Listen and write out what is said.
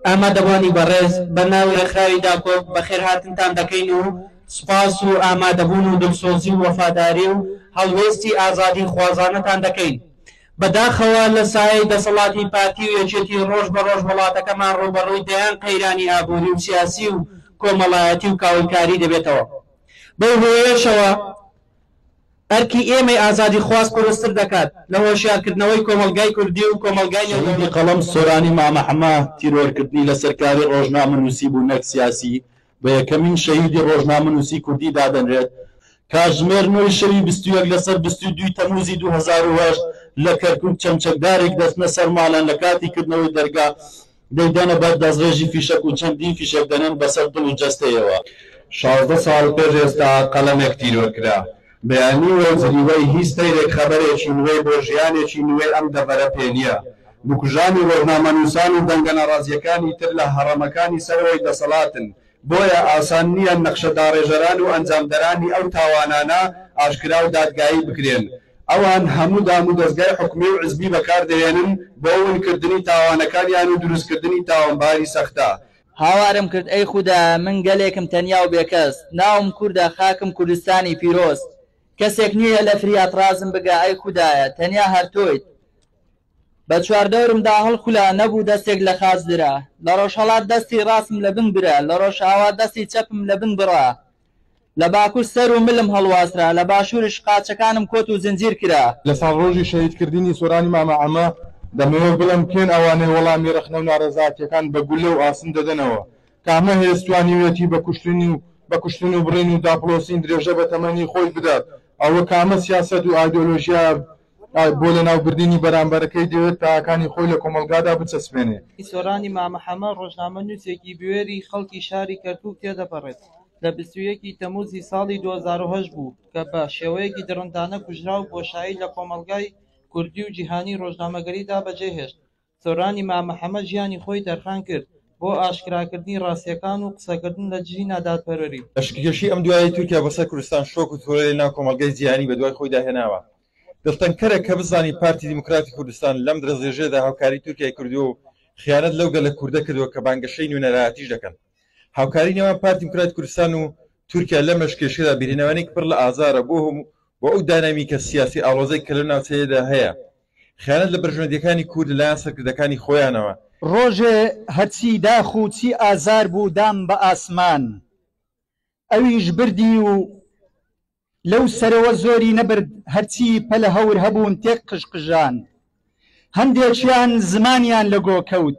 ئامادەبوانی بەڕێز بە ناو ڕێکخراوی داکۆک بەخێرهاتنتان دەکەین و سوپاس و ئامادەبوون و دڵسۆزی و وەفاداری و هەڵوێستی ئازادی خوازانەتان دەکەین. بەداخەوە لە سایەی دەسەڵاتی پارتی و یەکێتی ڕۆژ بە ڕۆژ وەڵاتەکەمان ڕووبەڕووی دەیان قەیرانی ئابووری و سیاسی و کۆمەڵایەتی و کاولکاری دەبێتەوە بەو هۆیەشەوە ئەرکی ئێمەی ئازادیخواز قورستر دەکات لە هۆشیارکردنەوەی کۆمەڵگای کوردی و کۆمەڵگای نێودەوڵەتی. شەهیدی قەڵەم سۆرانی مامە حەمە، تیرۆرکردنی لەسەر کاری ڕۆژنامەنووسی بوو نەک سیاسی، بە یەکەمین شەهیدی ڕۆژنامەنووسی کوردی دادەنرێت. کاتژمێر نۆی شەوی بیست و یەک لەسەر بیست و دووی تەمووزی دوو هەزار و هەشت لە کەرکووک چەمچەکدارێک دەچنە سەر ماڵیان لە کاتی کردنەوەی دەرگا، دەیدەنە بەر دەستڕێژی فیشەک و چەندین فیشەک دەنێن بەسەر دڵ و جەستەیەوە. شازدە ساڵ پێش ئێستا قەڵەمێک تیرۆر کرا. بەیانی و جریوەی هیچ سەیرێک خەبەرێکی نوێی بۆ ژیانێکی نوێی ئەم دەڤەرە پێ نییە. بکوژانی ڕۆژنامەنووسان و دەنگە ناڕازییەکانی تر لە هەڕەمەکانی سەرەوەی دەسەڵاتن بۆیە ئاسان نییە نەخشە داڕێژەران و ئەنجامدەرانی ئەو تاوانانە ئاشکرا و دادگایی بکرێن. ئەوان هەموو دامودەزگای حکومی و حزبی بەکار دەهێنن بۆ ونکردنی تاوانەکانیان و دروستکردنی تاوانباری سەختە. هاوارم کرد ئەی خودا من گەلێکم تەنیا و بێکەس، ناوم کوردە خاکم کوردستانی پیرۆز، کەسێک نییە لە فریات ڕازم بگا ئەی خودایە تەنیا هەر تۆیت. بە چواردەورمدا هەڵخولا، نەبوو دەستێک لە خاچ درا. لە ڕۆژهەڵات دەستی ڕاستم لە بن برا، لە ڕۆژئاوا دەستی چەپم لە بن بڕا. لە باکور سەر و ملم هەڵواسرا، لە باشوورش قاچەکانم کۆت و زنجیر کرا. لە ساڵڕۆژی شەهیدکردنی سۆرانی مامە عەمە، دەمەوێت بڵێم کێن ئەوانەی وەڵامی ڕەخنە و نارەزاتییەکان بە گوللە و ئاسن دەدەنەوە؟ کامە هێز توانیویەتی بە کوشتن و بە کوشتن و بڕین و داپڵۆسین درێژە بە تەمەنی خۆی بدات؟ ئەوە کامە سیاسەت و ئایدۆلۆژیایە بۆ لەناوبردنی بەرامبەرەکەی دەوێت تایەکانی خۆی لە کۆمەڵگادا بچەسپێنێ. سۆرانی مامە حەمە ڕۆژنامەنووسێکی بوێری خەڵکی شاری کەرکووک تێدەپەڕێت، لە بیست و یەک ی تەمووزی ساڵی دوو هەزار و هەشت بوو کە بە شێوەیەکی دڕندانە کوژرا و بۆشایی لە کۆمەڵگای کوردی و جیهانی ڕۆژنامەگەریدا بەجێهێشت. سۆرانی مامە حەمە ژیانی خۆی تەرخان کرد بۆ ئاشکراکردنی ڕاستیەکان و قسەکردن لە دژی نادادپەروەری. لەشکرکێشی ئەم دوایەی تورکیا بۆ سەر کوردستان شۆک و ترۆلەی ناو کۆمەڵگای جیهانی بە دوای خۆیدا هێناوە. دڵتەنگکەرە کە بزانین پارتی دیموکراتی کوردستان لەم درەزێژەدا هاوکاری تورکیای کردووە و خیانەت لەو گەلە کوردە کردووە کە بانگەشەی نوێنەرایەتیش دەکەن. هاوکاری نێوان پارتی دیموکراتی کوردستان و تورکیا لەم لەشکرکێشیەدا بیرهێنانێکی پڕ لە ئازارە بۆ ئەو داینامیکە سیاسی ئاڵۆزەی کە لەو ناوچەیەدا هەیە. خیانەت لە بەرژوەندیەکانی کورد لەلایەن سەرکردەکانی خۆیانەوە. ڕۆژێ هەرچی داخ و چی ئازار بوو دام بە ئاسمان ئەویش بردی و لەو سەرەوە زۆری نەبرد هەرچی پەلە هەور هەبوون تێک قژقژان هەندێکیان زمانیان لە گۆ کەوت